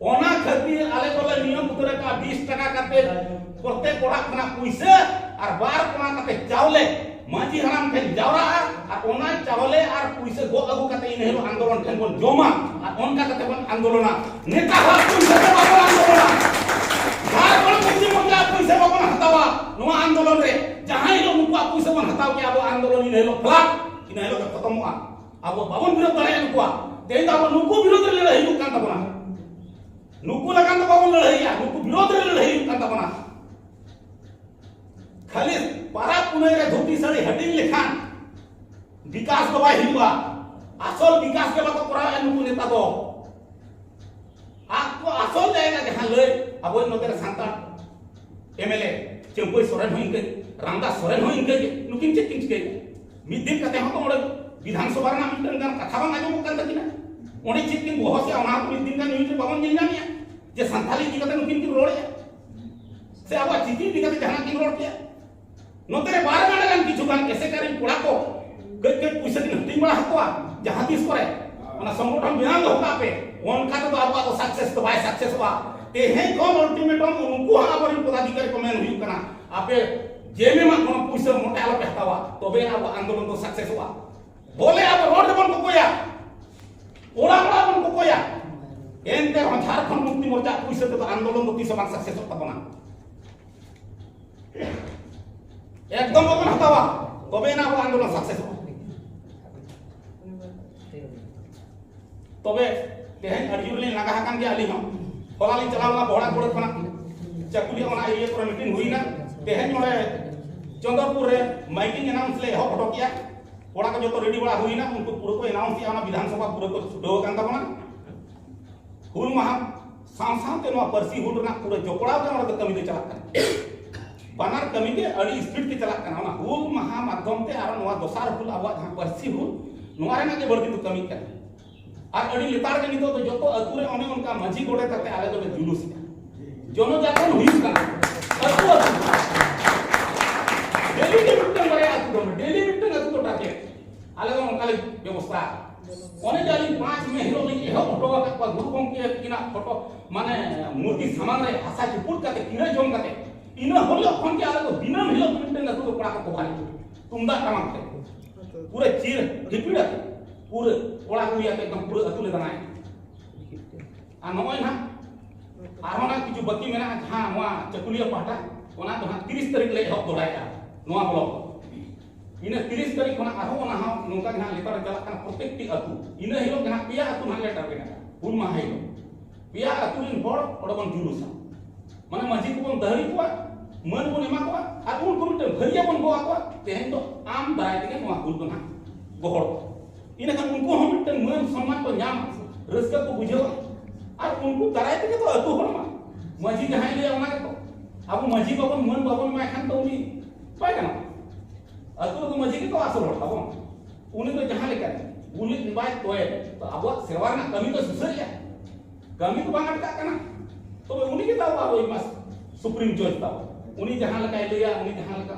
ᱚᱱᱟ ᱠᱷᱟᱹᱛᱤᱨ ᱟᱞᱮ ᱫᱚᱞᱮ ᱱᱤᱭᱚᱢ ᱩᱛᱟᱹᱨ ᱟᱠᱟᱫᱼᱟ ᱵᱤᱥ ᱴᱟᱠᱟ ᱠᱟᱛᱮ ᱯᱨᱚᱛᱮᱠ ᱚᱲᱟᱜ ᱠᱷᱚᱱᱟᱜ ᱯᱩᱭᱥᱟᱹ ᱟᱨ ᱵᱟᱨ ᱠᱚᱲᱟ ᱠᱟᱛᱮ ᱪᱟᱣᱞᱮ ᱢᱟᱹᱡᱷᱤ ᱦᱟᱲᱟᱢ ᱴᱷᱮᱱ ᱡᱟᱣᱨᱟᱜᱼᱟ ᱟᱨ ᱚᱱᱟ ᱪᱟᱣᱞᱮ ᱟᱨ ᱯᱩᱭᱥᱟᱹ ᱜᱚᱜ ᱟᱹᱜᱩ ᱠᱟᱛᱮ ᱤᱱᱟᱹ ᱦᱤᱞᱳᱜ ᱟᱱᱫᱳᱞᱚᱱ ᱴᱷᱮᱱ ᱵᱚᱱ ᱡᱚᱢᱟ ᱟᱨ ᱚᱱᱠᱟ ᱠᱟᱛᱮ ᱵᱚᱱ ᱟᱱᱫᱳᱞᱚᱱᱟ ᱱᱮᱛᱟ ᱦᱚᱲ ᱯᱩᱭᱥᱟᱹ ᱛᱮ ᱵᱟᱵᱚᱱ ᱟᱱᱫᱳᱞᱚᱱᱟ ᱡᱷᱟᱲᱠᱷᱚᱸᱰ ᱢᱩᱠᱛᱤ ᱢᱳᱨᱪᱟ ᱯᱩᱭᱥᱟᱹ ᱵᱟᱵᱚᱱ ᱦᱟᱛᱟᱣᱟ ᱱᱚᱣᱟ ᱟᱱᱫᱳᱞᱚᱱ ᱨᱮ ᱡᱟᱦᱟᱸ ᱦᱤᱞᱳᱜ ᱱᱩᱠᱩᱣᱟᱜ ᱯᱩᱭᱥᱟᱹ ᱵᱚᱱ ᱦᱟᱛᱟᱣ ᱠᱮᱜᱼᱟ ᱟᱵᱚ ᱟᱱᱫᱳᱞᱚᱱ ᱤᱱᱟᱹ ᱦᱤᱞᱳᱜ ᱯᱷᱞᱟᱴ ᱤᱱᱟᱹ ᱦᱤᱞᱳᱜ ᱜᱮ ᱠᱷᱚᱛᱚᱢᱚᱜᱼᱟ ᱟᱵᱚ ᱵᱟᱵᱚᱱ ᱵᱤᱨᱳᱫ ᱫᱟᱲᱮᱭᱟᱜ ᱠᱚᱣᱟ ᱛᱮᱦᱮᱧ ᱫᱚ ᱟᱵᱚ ᱱᱩᱠᱩ ᱵᱤᱨᱳᱫ ᱨᱮ ᱞᱟᱹᱲᱦᱟᱹᱭ ᱦᱩᱭᱩᱜ ᱠᱟᱱ ᱛᱟᱵᱚᱱᱟ ᱱᱩᱠᱩ ᱞᱟᱜᱟᱱ ᱫᱚ ᱵᱟᱵᱚᱱ ᱞᱟᱹᱲᱦᱟᱹᱭᱟ ᱱᱩᱠᱩ ᱵᱤᱨᱳᱫ ᱨᱮ ᱞᱟᱹᱲᱦᱟᱹᱭ ᱦᱩᱭᱩᱜ ᱠᱟᱱ ᱛᱟᱵᱚᱱᱟ ᱠᱷᱟᱹᱞᱤ ᱯᱟᱨᱟᱵᱽ ᱯᱩᱱᱟᱹᱭ ᱨᱮ ᱫᱷᱩᱛᱤ ᱥᱟᱹᱲᱤ ᱦᱟᱹᱴᱤᱧ ᱞᱮᱠᱷᱟᱱ ᱵᱤᱠᱟᱥ ᱫᱚ ᱵᱟᱭ ᱦᱩᱭᱩᱜᱼᱟ ᱟᱥᱚᱞ ᱵᱤᱠᱟᱥ ᱜᱮ ᱵᱟᱠᱚ ᱠᱚᱨᱟᱣᱮᱫᱼᱟ ᱱᱩᱠᱩ ᱱᱮᱛᱟ ᱫᱚ ᱟᱠᱚ ᱟᱥᱚᱞ ᱡᱟᱭᱜᱟ ᱡᱟᱦᱟᱸ ᱞᱟᱹᱭ ᱟᱵᱚ ᱱᱚᱛᱮ ᱨᱮ ᱥᱟᱱᱛᱟᱲ ᱮᱢᱮᱞᱮ ᱪᱟᱹᱢᱯᱟᱹᱭ ᱥᱚᱨᱮᱱ ᱦᱚᱸ ᱤᱱᱠᱟᱹ ᱨᱟᱢᱫᱟᱥ ᱥᱚᱨᱮᱱ ᱦᱚᱸ ᱤᱱᱠᱟᱹ ᱜᱮ ᱱᱩᱠᱤᱱ ᱪᱮᱫ ᱠᱤᱱ ᱪᱤᱠᱟᱹᱭᱮᱫᱼᱟ ᱢᱤᱫ ᱫᱤᱱ ᱠᱟᱛᱮ ᱦᱚᱸ ᱚᱸᱰᱮ ᱵᱤᱫᱷᱟᱱ ᱥᱚᱵᱷᱟ ᱨᱮᱱᱟᱜ ᱢᱤᱫᱴᱟᱝ ᱜᱟᱱ ᱠᱟᱛᱷᱟ ᱵᱟᱝ ᱟᱸᱡᱚᱢᱚᱜ ᱠᱟᱱ ᱛᱟᱹᱠᱤᱱᱟ ᱚᱸᱰᱮ ᱪᱮᱫ ᱠᱤᱱ ᱵᱚᱦᱚᱥᱮ ᱚᱱᱟ ᱦᱚᱸ ᱢᱤᱫ ᱫᱤᱱ ᱜᱟᱱ ᱱᱤᱭᱩᱡᱽ ᱨᱮ ᱵᱟᱵᱚᱱ ᱧᱮᱞ ᱧᱟᱢᱮᱜᱼᱟ ᱡᱮ ᱥᱟᱱᱛᱟᱲ ᱤᱫᱤ ᱠᱟᱛᱮ ᱱᱩᱠᱤᱱ ᱠᱤᱱ ᱨᱚᱲᱮᱜᱼᱟ ᱥᱮ ᱟᱵᱚᱣᱟᱜ ᱪᱤᱠᱤ ᱤᱫᱤ ᱠᱟᱛᱮ ᱡᱟᱦᱟᱱᱟᱜ ᱠᱤᱱ ᱨᱚᱲ ᱠᱮᱜᱼᱟ ᱱᱚᱛᱮ ᱨᱮ ᱵᱟᱨ ᱜᱟᱱ ᱜᱟᱱ ᱠᱤᱪᱷᱩ ᱜᱟᱱ ᱮᱥᱮᱠᱟᱨᱤ ᱠᱚᱲᱟ ᱠᱚ ᱠᱟᱹᱡ ᱠᱟᱹᱡ ᱯᱩᱭᱥᱟᱹ ᱠᱤᱱ ᱦᱟᱹᱴᱤᱧ ᱵᱟᱲᱟ ᱟᱠᱚᱣᱟ ᱡᱟᱦᱟᱸ ᱛᱤᱥ ᱠᱚᱨᱮ ᱚᱱᱟ ᱥᱚᱝᱜᱚᱴᱷᱚᱱ ᱵᱮᱱᱟᱣ ᱫᱚᱦᱚ ᱠᱟᱜ ᱯᱮ ᱚᱱᱠᱟ ᱛᱮᱫᱚ ᱟᱵᱚᱣᱟᱜ ᱫᱚ ᱥᱟᱠᱥᱮᱥ ᱫᱚ ᱵᱟᱭ ᱥᱟᱠᱥᱮᱥᱚᱜᱼᱟ ᱛᱮᱦᱮᱧ ᱠᱷᱚᱱ ᱚᱞᱴᱤᱢᱮᱴᱚᱢ ᱩᱱᱠᱩ ᱦᱚᱸ ᱟᱵᱚᱨᱮᱱ ᱯᱚᱫᱟᱫᱷᱤᱠᱟᱨᱤ ᱠᱚ ᱢᱮᱱ ᱦᱩᱭᱩᱜ ᱠᱟᱱᱟ ᱟᱯᱮ ᱡᱮᱢᱮ ᱢᱟ ᱠᱚᱱᱚ ᱯᱩᱭᱥᱟᱹ ᱢᱚᱴᱮ ᱟᱞᱚ ᱯᱮᱦᱛᱟᱣᱟ ᱛᱚᱵᱮ ᱟᱵᱚ ᱟᱱᱫᱳᱞᱚᱱ ᱫᱚ ᱥᱟᱠᱥᱮᱥᱚᱜᱼᱟ ᱵᱚᱞᱮ ᱟᱵᱚ ᱨᱚᱲ ᱫᱚᱵᱚᱱ ᱠᱚᱠᱚᱭᱟ ᱚᱲᱟᱜ ᱚᱲᱟᱜ ᱵᱚᱱ ᱠᱚᱠᱚᱭᱟ ᱮᱱᱛᱮ ᱨᱮᱦᱚᱸ ᱡᱷᱟᱲᱠᱷᱚᱸᱰ ᱢᱩᱠᱛᱤ ᱢᱳᱨᱪᱟ ᱯᱩᱭᱥᱟᱹ ᱛᱮᱫᱚ ᱟᱱᱫᱳᱞᱚᱱ ᱫᱚ ᱛᱤᱥ ᱦᱚᱸ ᱵᱟᱝ ᱥᱟᱠᱥᱮᱥᱚᱜ ᱛᱟᱵᱚᱱᱟ ᱮᱠᱫᱚᱢ ᱵᱟᱵᱚᱱ ᱦᱟᱛᱟᱣᱟ ᱛᱚᱵᱮ ᱟᱱᱟ ᱟᱵᱚ ᱟᱱᱫᱳᱞᱚᱱ ᱥᱟᱠᱥᱮᱥᱚᱜᱼᱟ ᱛᱚᱵᱮ ᱛᱮᱦᱮᱧ ᱟᱹᱰᱤ ᱡᱳᱨ ᱞᱤᱧ ᱞᱟᱸᱜᱟ ᱟᱠᱟᱱ ᱜᱮᱭᱟ ᱟᱹᱞᱤᱧ ᱦᱚᱸ ᱦᱚᱞᱟ ᱞᱤᱧ ᱪᱟᱞᱟᱣ ᱞᱮᱱᱟ ᱵᱚᱦᱲᱟ ᱠᱚᱲᱟ ᱠᱷᱚᱱᱟᱜ ᱪᱟᱹᱠᱩᱞᱤᱭᱟᱹ ᱚᱱᱟ ᱮᱨᱤᱭᱟ ᱠᱚᱨᱮ ᱢᱤᱴᱤᱝ ᱦᱩᱭᱱᱟ ᱛᱮᱦᱮᱧ ᱱᱚᱰᱮ ᱪᱚᱸᱫᱚᱨᱯᱩᱨ ᱨᱮ ᱢᱟᱭᱠᱤᱝ ᱮᱱᱟᱣᱩᱱᱥ ᱞᱮ ᱮᱦᱚᱵ ᱦᱚᱴᱚ ᱠᱮᱜᱼᱟ ᱠᱚᱲᱟ ᱠᱚ ᱡᱚᱛᱚ ᱨᱮᱰᱤ ᱵᱟᱲᱟ ᱦᱩᱭᱱᱟ ᱩᱱᱠᱩ ᱯᱩᱨᱟᱹ ᱠᱚ ᱮᱱᱟᱣᱩᱱᱥ ᱠᱮᱜᱼᱟ ᱚᱱᱟ ᱵᱤᱫᱷᱟᱱᱥᱚᱵᱷᱟ ᱯᱩᱨᱟᱹ ᱠᱚ ᱪᱷᱩᱴᱟᱹᱣ ᱟᱠᱟᱱ ᱛᱟᱵᱚᱱᱟ ᱦᱩᱞ ᱢᱟᱦᱟ ᱥᱟᱶ ᱥᱟᱶᱛᱮ ᱱᱚᱣᱟ ᱯᱟᱹᱨᱥᱤ ᱦᱩᱞ ᱨᱮᱱᱟᱜ ᱯᱩᱨᱟᱹ ᱡᱚᱯᱲᱟᱣ ᱜᱮ ᱱᱚᱰᱮ ᱫᱚ ᱠᱟᱹᱢᱤ ᱫᱚ ᱪᱟᱞᱟᱜ ᱠᱟᱱᱟ ᱵᱟᱱᱟᱨ ᱠᱟᱹᱢᱤ ᱜᱮ ᱟᱹᱰᱤ ᱥᱯᱤᱰ ᱛᱮ ᱪᱟᱞᱟᱜ ᱠᱟᱱᱟ ᱚᱱᱟ ᱦᱩᱞ ᱢᱟᱦᱟ ᱢᱟᱫᱽᱫᱷᱚᱢ ᱛᱮ ᱟᱨ ᱱᱚᱣᱟ ᱫᱚᱥᱟᱨ ᱦᱩᱞ ᱟᱵᱚᱣᱟᱜ ᱡᱟᱦᱟᱸ ᱯᱟᱹᱨᱥᱤ ᱦᱩᱞ ᱱᱚᱣᱟ ᱨᱮᱱᱟᱜ ᱜᱮ ᱵᱟᱹᱲᱛᱤ ᱫᱚ ᱠᱟᱹᱢᱤ ᱠᱟᱱᱟ ᱟᱨ ᱟᱹᱰᱤ ᱞᱮᱛᱟᱲ ᱜᱮ ᱱᱤᱛᱚᱜ ᱫᱚ ᱡᱚᱛᱚ ᱟᱹᱛᱩ ᱨᱮ ᱚᱱᱮ ᱚᱱᱠᱟ ᱢᱟᱹᱡᱷᱤ ᱜᱚᱰᱮᱛ ᱟᱛᱮ ᱟᱞᱮ ᱫᱚᱞᱮ ᱡᱩᱞᱩᱥ ᱮᱫᱟ ᱡᱚᱱᱚ ᱡᱟᱜᱚᱨᱚᱱ ᱦᱩᱭᱩᱜ ᱠᱟᱱᱟ ᱟᱹᱛᱩ ᱟᱹᱛᱩ ᱰᱮᱞᱤ ᱜᱮ ᱢᱤᱫᱴᱟᱝ ᱵᱟᱨᱭᱟ ᱟᱹᱛᱩ ᱫᱚ ᱰᱮᱞᱤ ᱢᱤᱫᱴᱟᱝ ᱟᱹᱛᱩ ᱫᱚ ᱴᱟᱨᱜᱮᱴ ᱟᱞᱮ ᱫᱚ ᱚᱱᱠᱟ ᱞᱮ ᱵᱮᱵᱚᱥᱛᱷᱟ ᱚᱱᱮ ᱡᱮ ᱟᱹᱞᱤᱧ ᱯᱟᱸᱪ ᱢᱮ ᱦᱤᱞᱳᱜ ᱞᱤᱧ ᱮᱦᱚᱵ ᱦᱚᱴᱚ ᱟᱠᱟᱫ ᱠᱚᱣᱟ ᱜᱩᱨᱩ ᱜᱚᱢᱠᱮ ᱛᱟᱹᱠᱤᱱᱟᱜ ᱯᱷᱳᱴᱳ ᱢᱟᱱᱮ ᱢᱩᱨᱛᱤ ᱥᱟᱢᱟᱝ ᱨᱮ ᱦᱟᱥᱟ ᱪᱩᱯᱩᱫ ᱠᱟᱛᱮ ᱠᱤᱱᱟᱹ ᱡᱚᱢ ᱠᱟᱛᱮ ᱤᱱᱟᱹ ᱦᱤᱞᱳᱜ ᱠᱷᱚᱱ ᱜᱮ ᱟᱞᱮ ᱫᱚ ᱫᱤᱱᱟᱹᱢ ᱦᱤᱞᱳᱜ ᱢᱤᱫᱴᱟᱝ ᱟᱹᱛᱩ ᱫᱚ ᱠᱚᱲᱟ ᱠᱚᱠᱚ ᱵᱟᱦᱟᱞᱤ ᱛᱩᱢᱫᱟᱜ ᱴᱟᱢᱟᱠ ᱛᱮ ᱯᱩᱨᱟᱹ ᱪᱤᱨ ᱦᱤᱯᱤᱲ ᱟᱛᱮ ᱯᱩᱨᱟᱹ ᱠᱚᱲᱟ ᱠᱩᱲᱤ ᱟᱛᱮ ᱮᱠᱫᱚᱢ ᱯᱩᱨᱟᱹ ᱟᱹᱛᱩ ᱞᱮ ᱫᱟᱬᱟᱭᱟ ᱟᱨ ᱱᱚᱜᱼᱚᱭ ᱱᱟᱜ ᱟᱨᱦᱚᱸ ᱱᱟᱜ ᱠᱤᱪᱷᱩ ᱵᱟᱹᱠᱤ ᱢᱮᱱᱟᱜᱼᱟ ᱡᱟᱦᱟᱸ ᱱᱚᱣᱟ ᱪᱟᱹᱠᱩᱞᱤᱭᱟᱹ ᱯᱟᱦᱴᱟ ᱚᱱᱟ ᱫᱚ ᱦᱟᱸᱜ ᱛᱤᱨᱤᱥ ᱛᱟᱹᱨᱤᱠᱷ ᱞᱮ ᱮᱦᱚᱵ ᱫᱚᱦᱲᱟᱭᱮᱫᱼᱟ ᱱᱚᱣᱟ ᱵᱞᱚᱠ ᱤᱱᱟᱹ ᱛᱤᱨᱤᱥ ᱛᱟᱹᱨᱤᱠᱷ ᱠᱷᱚᱱᱟᱜ ᱟᱨᱦᱚᱸ ᱚᱱᱟ ᱦᱚᱸ ᱱᱚᱝᱠᱟ ᱜᱮ ᱦᱟᱸᱜ ᱞᱮᱛᱟᱲ ᱨᱮ ᱪᱟᱞᱟᱜ ᱠᱟᱱᱟ ᱯᱨᱚᱛᱮᱠᱴᱤ ᱟᱹᱛᱩ ᱤᱱᱟᱹ ᱦᱤᱞᱳᱜ ᱜᱮ ᱦᱟᱸᱜ ᱯᱮᱭᱟ ᱟᱹᱛᱩ ᱦᱟᱸᱜ ᱞᱮ ᱴᱟᱨᱜᱮᱴ ᱟᱠᱟᱫᱟ ᱦᱩᱞ ᱢᱟᱦᱟ ᱦᱤᱞᱳᱜ ᱯᱮᱭᱟ ᱟᱹᱛᱩ ᱨᱮᱱ ᱦᱚᱲ ᱚᱸᱰᱮ ᱵᱚᱱ ᱡᱩᱞᱩᱥᱟ ᱢᱟᱱᱮ ᱢᱟᱹᱡᱷᱤ ᱠᱚᱵᱚᱱ ᱫᱟᱹᱦᱲᱤ ᱠᱚᱣᱟ ᱢᱟᱹᱱ ᱵᱚᱱ ᱮᱢᱟ ᱠᱚᱣᱟ ᱟᱨ ᱩᱱᱠᱩ ᱢᱤᱫᱴᱟᱝ ᱵᱷᱟᱹᱨᱤᱭᱟᱹ ᱵᱚᱱ ᱜᱚᱜ ᱟᱠᱚᱣᱟ ᱛᱮᱦᱮᱧ ᱫᱚ ᱟᱢ ᱫᱟᱨᱟᱭ ᱛᱮᱜᱮ ᱱᱚᱣᱟ ᱦᱩᱞ ᱫᱚ ᱦᱟᱸᱜ ᱜᱚᱦᱚᱲ ᱤᱱᱟᱹ ᱠᱷᱟᱱ ᱩᱱᱠᱩ ᱦᱚᱸ ᱢᱤᱫᱴᱟᱝ ᱢᱟᱹᱱ ᱥᱚᱱᱢᱟᱱ ᱠᱚ ᱧᱟᱢᱟ ᱨᱟᱹᱥᱠᱟᱹ ᱠᱚ ᱵᱩᱡᱷᱟᱹᱣᱟ ᱟᱨ ᱩᱱᱠᱩ ᱫᱟᱨᱟᱭ ᱛᱮᱜᱮ ᱛᱚ ᱟᱹᱛᱩ ᱦᱚᱲ ᱢᱟ ᱢᱟᱹᱡᱷᱤ ᱡᱟᱦᱟᱸᱭ ᱞᱟᱹᱭᱟ ᱚᱱᱟ ᱜᱮᱛᱚ ᱟᱵᱚ ᱢᱟᱹᱡᱷᱤ ᱵᱟᱵᱚᱱ ᱢᱟᱹᱱ ᱵᱟᱵᱚᱱ ᱮᱢᱟᱭ ᱠᱷᱟᱱ ᱫᱚ ᱩᱱᱤ ᱵᱟᱭ ᱜᱟᱱᱚᱜᱼᱟ ᱟᱹᱛᱩ ᱨᱮᱫᱚ ᱢᱟᱹᱡᱷᱤ ᱜᱮᱛᱚ ᱟᱥᱚᱞ ᱦᱚᱲ ᱛᱟᱵᱚᱱ ᱩᱱᱤ ᱫᱚ ᱡᱟᱦᱟᱸ ᱞᱮᱠᱟ ᱩᱱᱤ ᱵᱟᱭ ᱛᱚᱭᱮ ᱛᱚ ᱟᱵᱚᱣᱟᱜ ᱥᱮᱨᱣᱟ ᱨᱮᱱᱟᱜ ᱠᱟᱹᱢᱤ ᱫᱚ ᱥᱩᱥᱟᱹᱨᱮᱜᱼᱟ ᱠᱟᱹᱢᱤ ᱫᱚ ᱵᱟᱝ ᱟᱴᱠᱟᱜ ᱠᱟᱱᱟ ᱛᱚᱵᱮ ᱩᱱᱤ ᱜᱮ ᱛᱟᱵᱚ ᱟᱵᱚᱭᱤᱡ ᱢᱟ ᱥᱩᱯᱨᱤᱢ ᱡᱚᱡᱽ ᱛᱟᱵᱚ ᱩᱱᱤ ᱡᱟᱦᱟᱸ ᱞᱮᱠᱟᱭ ᱞᱟᱹᱭᱟ ᱩᱱᱤ ᱡᱟᱦᱟᱸ ᱞᱮᱠᱟ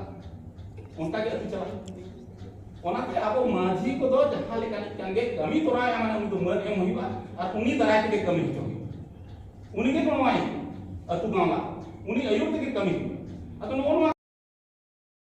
ᱚᱱᱠᱟ ᱜᱮ ᱟᱹᱛᱩ ᱪᱟᱞᱟᱜᱼᱟ ᱚᱱᱟᱛᱮ ᱟᱵᱚ ᱢᱟᱹᱡᱷᱤ ᱠᱚᱫᱚ ᱡᱟᱦᱟᱸ ᱞᱮᱠᱟ ᱢᱤᱫᱴᱟᱝ ᱜᱮ ᱠᱟᱹᱢᱤ ᱛᱚᱨᱟᱭᱟ ᱢᱟᱱᱮ ᱩᱱᱤ ᱫᱚ ᱢᱟᱹᱱ ᱮᱢ ᱦᱩᱭᱩᱜᱼᱟ ᱟᱨ ᱩᱱᱤ ᱫᱟᱨᱟᱭ ᱛᱮᱜᱮ ᱠᱟᱹᱢᱤ ᱦᱚᱪᱚ ᱩᱱᱤ ᱜᱮ ᱠᱚᱢᱟᱭ ᱟᱹᱛᱩ ᱜᱟᱶᱞᱟ ᱩᱱᱤ ᱟᱹᱭᱩᱨ ᱛᱮᱜᱮ ᱠᱟᱹᱢᱤ ᱟᱫᱚ ᱱᱚᱜᱼᱚ ᱱᱚᱣᱟ